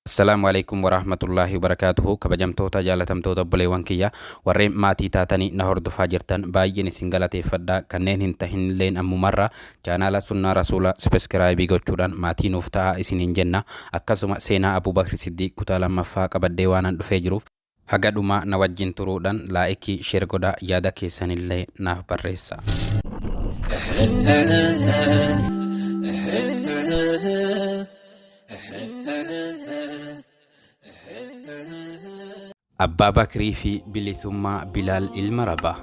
Assalaamu Aleykum Waraahmatullaahi Wabarakaatuhu Kabajamtoota jaalatamtoota obboleewwan kiyya warreen maatii taatanii na hordofaa jirtan baay'een isin galateeffadha kanneen hin tahinilleen ammumarra chaanaala sunnaa rasuula sibiskiraayibii gochuudhaan maatii nuuf ta'aa isiniin jenna akkasuma seenaa Abuu Bakri Siddiiq kutaa lammaffaa qabadhee waanan dhufee jiruuf Haga dhumaa na wajjin turuudhan laa'ikii sher godha yaada keessanillee naaf barreessa. Abbaa Bakrii fi Bilisummaa Bilaal Ilma Rabah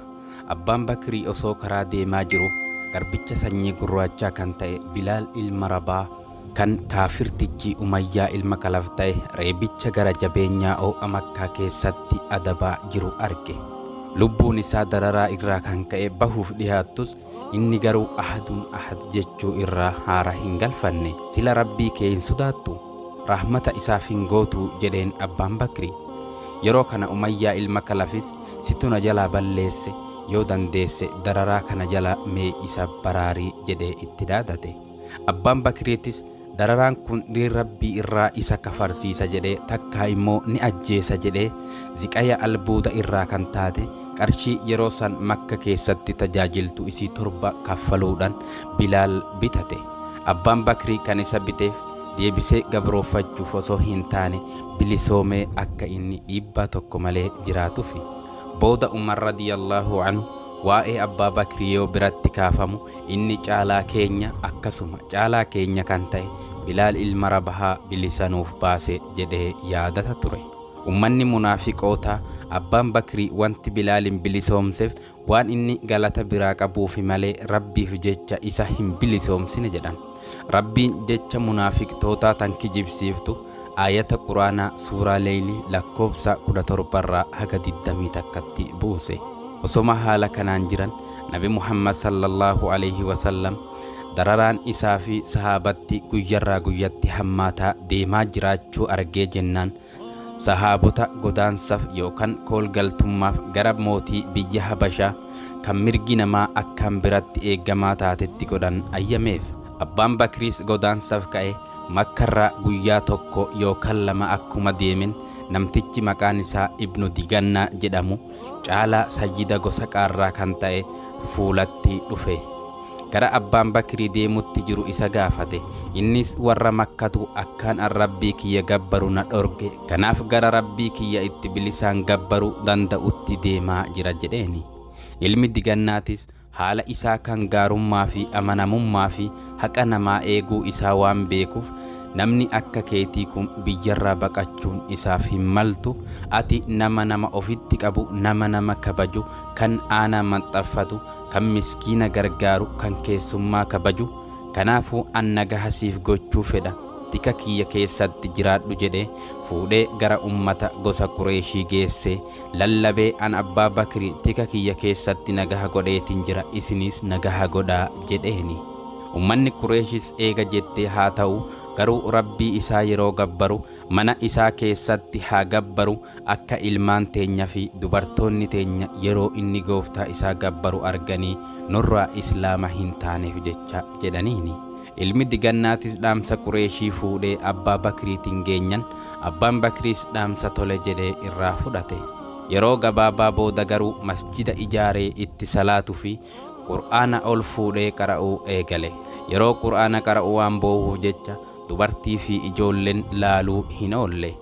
Abbaan Bakrii osoo karaa deemaa jiru garbicha sanyii gurraachaa kan ta'e Bilaal Ilma Rabah Kan kaafirtichi Umayyaa ilma Kalaf ta'e reebicha gara jabeenyaa oo'a Makkaa keessatti adabaa jiru arge. Lubbuun isaa dararaa irraa kan ka'e bahuuf dhihaattus, inni garuu Ahadun Ahad jechuu irraa haara hin galfanne. Sila Rabbii kee hin sodaattuu? Rahmata isaaf hin gootuu? jedheen Abbaan Bakri. Yeroo kana Umayyaa ilma Kalafis, Situ na jalaa balleesse, yoo dandeesse dararaa kana jala mee isa baraari jedhee itti dhaadate. Abbaan Bakriitis dararaan kun diin Rabbii irraa isa kafarsiisa jedhee takkaa immoo ni ajjeesa jedhee ziqaya albuuda irraa kan taate qarshii yeroo san Makka keessatti tajaajiltu isii torba kaffaluudhan Bilaal bitate. Abbaan Bakrii kan isa biteef deebisee gabrooffachuuf osoo hin taane bilisoomee akka inni dhiibbaa tokko malee jiraatufi. Booda Umar radiyallahu anhu Waa'ee Abbaa Bakrii yoo biratti kaafamu inni caalaa keenya akkasuma caalaa keenya kan ta'e Bilaal ilma Rabahaa bilisa nuuf baase jedhee yaadata ture. Ummanni munaafiqootaa Abbaan Bakrii wanti Bilaalin bilisoomsef waan inni galata biraa qabuufi malee Rabbiif jecha isa hin bilisoomsine jedhan. Rabbiin jecha munaafiqtootaa tan kijibsiiftu aayata Qur'aanaa suuraa Leyli lakkoofsa 17 irraa haga 21tti buuse. Osoma haala kanaan jiran Nabi Muhammad sallallaahu aleeyhi wasallam dararaan isaa fi sahaabatti guyyarraa guyyatti hammaataa deemaa jiraachuu argee jennaan Sahaabota godaansaf yookan koolgaltummaaf gara mootii biyya Habashaa kan mirgi namaa akkaan biratti eegamaa taatetti godhan ayyameef. Abbaan Bakriis godaansaf ka'e Makkarraa guyyaa tokko yookan lama akkuma deemen namtichi maqaan isaa Ibnu Digannaa jedhamu caalaa sayyida gosa Qaarraa kan ta'e fuulatti dhufe. gara abbaan bakrii deemutti jiru isa gaafate innis warra makkatu akkaan an rabbii kiyya gabbaru na dhorge kanaaf gara rabbii kiyya itti bilisaan gabbaru danda'utti deemaa jira jedheeni ilmi digannaatis haala isaa kan gaarummaa fi amanamummaa fi haqa namaa eeguu isaa waan beekuuf namni akka keetii kun biyyarraa baqachuun isaaf hin maltu ati nama nama ofitti qabu nama nama kabaju kan aanaa maxxaffatu kan miskiina gargaaru, kan keessummaa kabaju, kanaafuu an nagaha siif gochuu fedha, tika kiyya keessatti jiraadhu jedhee fuudhee gara ummata gosa Qureeyshii geessee lallabee an Abbaa Bakri tika kiyya keessatti nagaha godheetin jira isiniis nagaha godhaa jedheeni. Ummanni Qureeyshis eega jettee haa ta'uu garuu Rabbii isaa yeroo gabbaru Mana isaa keessatti haa gabbaru, akka ilmaan teenya fi dubartoonni teenya yeroo inni Gooftaa isaa gabbaru arganii nurraa Islaama hin taaneef jecha jedhaniini. Ilmi digannaatis dhaamsa Qureeshii fuudhee Abbaa Bakriitin geenyan, Abbaan Bakriis dhaamsa tole jedhee irraa fudhate. Yeroo gabaabaa booda garuu masjida ijaaree itti salaatu fi Qur'aana ol fuudhee qara'uu eegale. Yeroo Qur'aana qara'u waan boohuuf jecha dubartii fi ijoolleen laaluu hin oolle.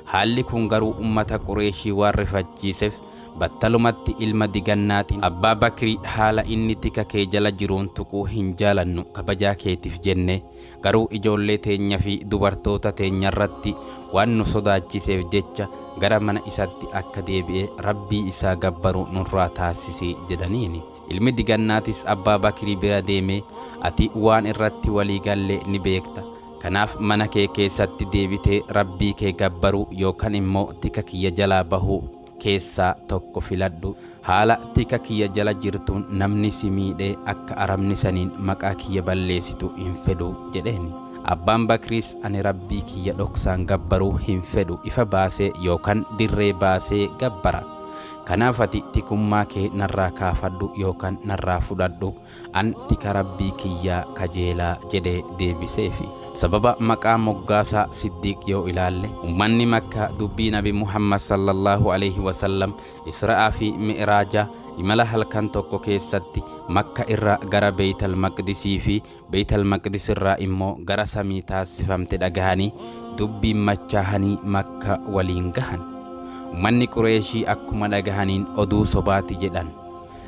Haalli kun garuu ummata Qureeshii waan rifachiisef battalumatti ilma digannaatiin Abbaa Bakri haala inni tika kee jala jiruun tuquu hin jaalannu kabajaa keetif jenne garuu ijoollee teenya fi dubartoota teenya irratti waan nu sodaachiseef jecha gara mana isatti akka deebi'ee Rabbii isaa gabbaru nurraa taasisi jedhaniini. Ilmi digannaatis Abbaa Bakrii bira deemee, Ati waan irratti walii galle ni beekta. Kanaaf mana kee keessatti deebitee Rabbii kee gabbaruu yookan immoo tika kiyya jalaa bahuu keessaa tokko filadhu. Haala tika kiyya jala jirtuun namni si miidhee akka arabni saniin maqaa kiyya balleessitu hin fedhu jedheen. Abbaan Bakriis ani Rabbii kiyya dhoksaan gabbaruu hin fedhu ifa baasee yookan dirree baasee gabbara. Kanaaf ati tikummaa kee narraa kaafadhu yookaan narraa fudhadhu, an tika Rabbii kiyyaa kajeela jedhee deebiseefi. Sababa maqaa moggaasaa Siddiiq yoo ilaalle, ummanni Makkaa dubbii Nabi Muhammad sallallaahu aleyhi wa sallam Isra'aa fi Mi'raaja, imala halkan tokko keessatti, Makka irraa gara Beeytal Maqdisii fi Beeytal Maqdis irraa immoo gara samii taassifamte dhagahanii dubbiin machaahanii Makka waliin gahan. Ummanni Qureeyshii akkuma dhagahaniin oduu sobaati jedhan.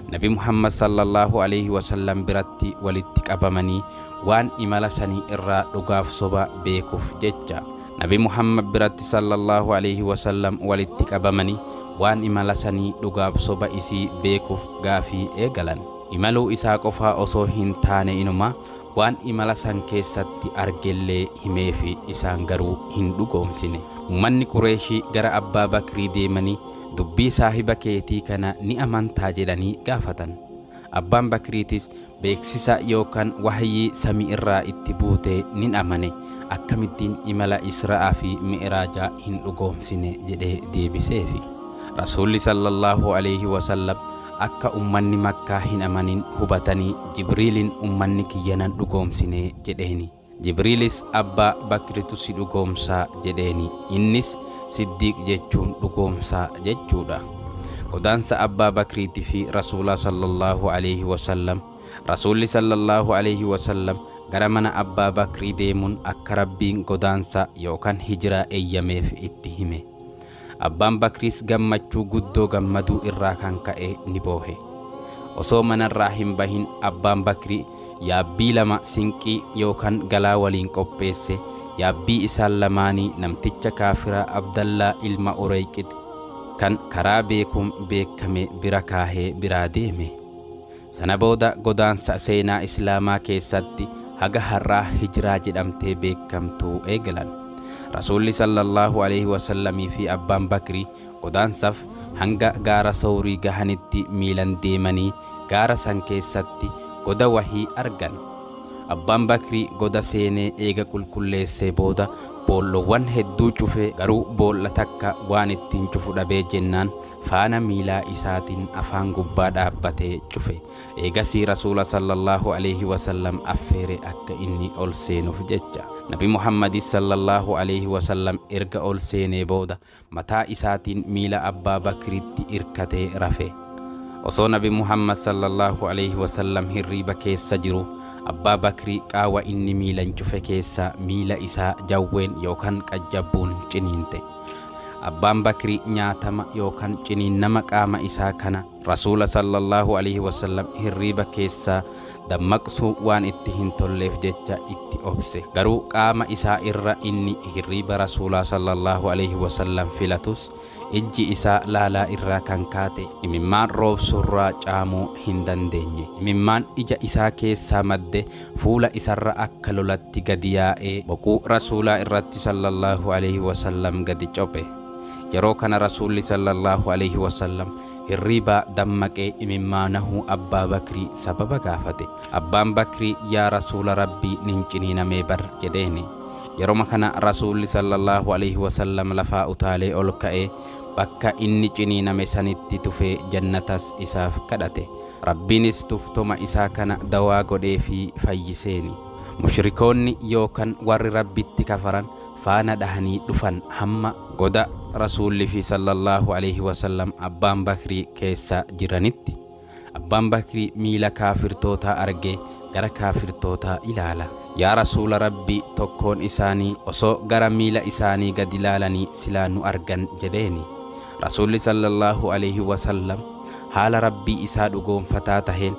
Nabi Muhammad sallallaahu aleeyhi wasallam biratti walitti qabamanii waan imala sanii irraa dhugaaf soba beekuf jecha. Nabi Muhammad biratti sallallaahu aleeyhi wasallam walitti qabamanii waan imala sanii dhugaaf soba isii beekuf gaafii eegalan. Imaluu isaa qofaa osoo hin taane inumaa waan imala san keessatti argellee himeefi, isaan garuu hin dhugoomsine. Ummanni Qureeyshii gara Abbaa Bakrii deemanii dubbii saahiba keetii kana ni amantaa jedhanii gaafatan. Abbaan Bakriitis beeksisa yookan wahyii samii irraa itti buute nin amane, akkamittiin imala Isra'aa fi Mi'raajaa hin dhugoomsine jedhee deebiseefi. Rasuulli sallallaahu aleeyhi wasallam Akka ummanni Makkaa hin amanin hubatanii Jibriiliin ummanni kiyya nan dhugoomsine jedheeni. Jibriilis Abbaa Bakritu si dhugoomsa jedheeni. Innis Siddiiq jechuun dhugoomsa jechuudha. Godaansa Abbaa Bakriiti fi Rasuulaa sallallaahu aleeyhi wasallam Rasuulli sallallaahu aleeyhi wasallam gara mana Abbaa Bakrii deemun akka Rabbiin godaansa yookan hijraa eyyameef itti hime. Abbaan Bakriis gammachuu guddoo gammaduu irraa kan ka'e ni boohe. Osoo manarraa hin bahin Abbaan Bakrii yaabbii lama sinqii yookan galaa waliin qopheesse, yaabbii isaan lamaanii namticha kaafiraa Abdallaa ilma Ureyqit kan karaa beekuun beekkame bira kaahee biraa deeme. Sana booda godaansa seenaa Islaamaa keessatti haga har'aa Hijraa jedhamtee beekkamtu eegalan. Rasuulli sallallaahu aleeyhi wasallamii fi Abbaan Bakri godaansaf hanga gaara Sawrii gahanitti miilan deemanii gaara san keessatti goda wahii argan. Abbaan Bakri goda seenee eega qulqulleessee booda boollowwan hedduu cufe garuu boolla takka waan ittiin cufu dhabee jennaan faana miilaa isaatin afaan gubbaa dhaabbatee cufe. Eegasii Rasuula sallallaahu aleeyhi wasallam affeere akka inni ol seenuf jecha. Nabi Muhammadis sallallaahu aleeyhi wasallam erga ol seenee booda mataa isaatin miila Abbaa Bakritti irkatee rafe. Osoo Nabi Muhammad sallallaahu aleeyhi wasallam hirriiba keessa jiru Abbaa Bakri qaawa inni miilan cufe keessaa miila isaa jawween yookan qajjabbuun ciniinte. Abbaan Bakri nyaatama yookan ciniinnama qaama isaa kana Rasuula sallallaahu aleeyhi wasallam hirriiba keessaa dammaqsuu waan itti hin tolleef jecha itti obse. Garuu qaama isaa irra inni hirriiba Rasuulaa sallallaahu aleeyhi wasallam filatus ijji isaa laalaa irraa kan kaate imimmaan roobsurraa caamuu hin dandeenye. Imimmaan ija isaa keessaa madde fuula isarra akka lolatti gadi yaa'ee boquu Rasuulaa irratti sallallaahu aleeyhi wasallam gadi cophe. Yeroo kana Rasuulli sallallaahu aleeyhi wasallam hirriibaa dammaqee imimmaanahuu Abbaa Bakrii sababa gaafate. Abbaan Bakrii yaa Rasuula Rabbii nin ciniinamee bar jedheeni. Yeroma kana Rasuulli sallallaahu aleeyhi wasallam lafaa utaalee ol ka'ee bakka inni ciniiname sanitti tufee jannatas isaaf kadhate. Rabbiinis tuftoma isaa kana dawaa godheefii fayyiseeni. Mushrikoonni yookan warri Rabbitti kafaran faana dhahanii dhufan hamma. goda Rasuullifii sallallaahu aleeyhi wasallam Abbaan Bakrii keessa jiranitti. Abbaan Bakrii miila kaafirtootaa argee gara kaafirtootaa ilaala. Yaa Rasuula Rabbii tokkoon isaanii osoo gara miila isaanii gadi laalanii silaa nu argan jedheeni. Rasuulli sallallaahu aleeyhi wasallam haala Rabbii isaa dhugoomfataa taheen,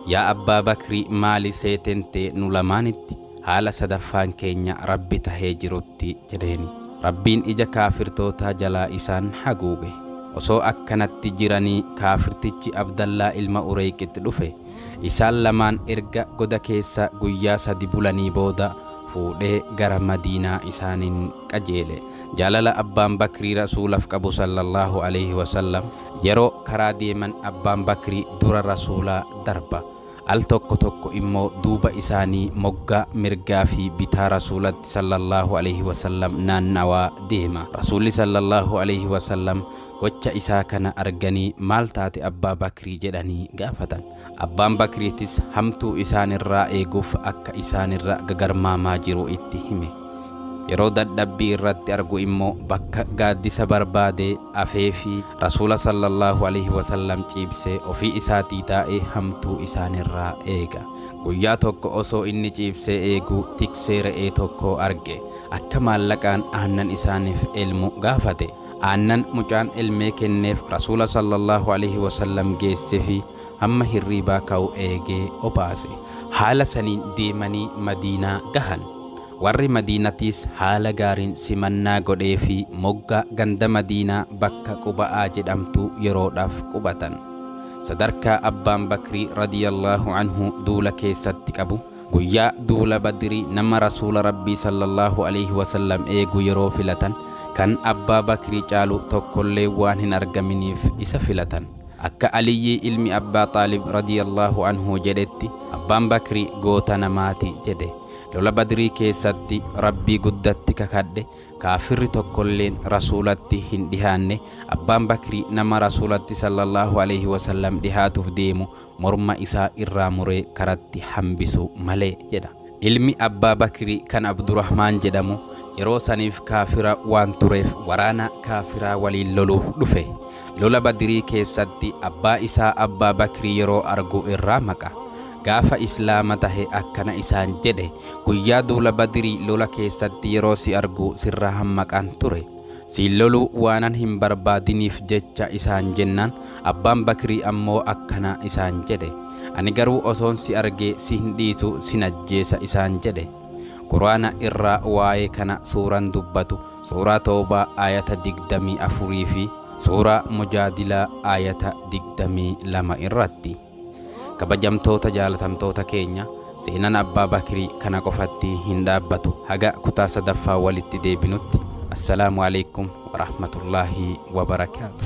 Yaa Abbaa Bakri maali seeten tee nu lamaanitti haala sadaffaan keenya Rabbi tahee jirutti? jedheeni. Rabbiin ija kaafirtootaa jalaa isaan haguuge. Osoo akkanatti jiranii kaafirtichi Abdallaa ilma Ureyqitt dhufe, isaan lamaan erga goda keessa guyyaa sadi bulanii booda fuudhee gara Madiinaa isaaniin qajeele. Jaalala Abbaan Bakrii Rasuulaf qabu Sallallaahu Aleeyhi Wasallam, Yeroo karaa deeman Abbaan Bakri dura Rasuula darba. Al tokko tokko immoo duuba isaanii moggaa mirgaa fi bitaa Rasuulatti Sallallaahu Aleeyhi Wasallam naannawaa deema. Rasuulli Sallallaahu Aleeyhi Wasallam gocha isaa kana arganii maal taate Abbaa Bakri jedhanii gaafatan. Abbaan Bakriitis hamtuu isaanirraa eeguuf akka isaanirra gagarmaamaa jiru itti hime. Yeroo dadhabbii irratti argu immoo bakka gaaddisa barbaadee afeefii Rasuula sallallahu aleyhi wa sallam ciibsee ofii isaatii taa'ee hamtuu isaanirraa eega. Guyyaa tokko osoo inni ciibsee eeguu tiksee re'ee tokkoo arge. Akka maallaqaan aannan isaaniif elmu gaafate. Aannan mucaan elmee kenneef Rasuula sallallaahu aleeyhi wasallam geessefi hamma hirriibaa ka'u eegee obaase. Haala saniin deemanii Madiinaa gahan. Warri Madiinatiis haala gaariin simannaa godheefii moggaa ganda Madiinaa bakka Quba'aa jedhamtuu yeroodhaaf qubatan. Sadarkaa Abbaan Bakrii radiyallaahu anhu duula keessatti qabu Guyyaa duula Badrii nama Rasuula Rabbii sallallaahu aleeyhi wasallam eegu yeroo filatan kan Abbaa Bakrii caalu tokkollee waan hin argaminiif isa filatan. Akka Aliyyii ilmi Abbaa Xaalib radiyallaahu anhu jedhetti, Abbaan Bakri goota namaati jedhe. Lola Badrii keessatti Rabbii guddatti kakadhe, kaafirri tokkolleen Rasuulatti hin dhihaanne, Abbaan Bakri nama Rasuulatti sallallaahu aleeyhi wasallam dhihaatuuf deemu morma isaa irraa muree karatti hambisu malee jedha. Ilmi Abbaa Bakri kan Abdurahmaan jedhamu yeroo saniif kaafira waan tureef waraana kaafiraa waliin loluuf dhufe. Lola Badrii keessatti abbaa isaa Abbaa Bakri yeroo argu irraa maqa. Gaafa Islaama tahe akkana isaan jedhe, Guyyaa duula Badrii lola keessatti yeroo si argu sirraa hammaqaan ture. Siin loluu waanan hin barbaadiniif jecha isaan jennaan, abbaan Bakrii ammoo akkana isaan jedhe, Ani garuu osoon si argee si hin dhiisu sin ajjeesa isaan jedhe. Qur'aana irraa waa'ee kana suuran dubbatu Suuraa Tawbaa aayata 24 fi Suuraa Mujaadilaa aayata 22 irratti. Kabajamtoota jaalatamtoota keenya seenan Abbaa Bakrii kana qofatti hin dhaabbatu. Haga kutaa sadaffaa walitti deebinutti Assalaamu Aleykum Warahmatullaahi Wabarakaatu.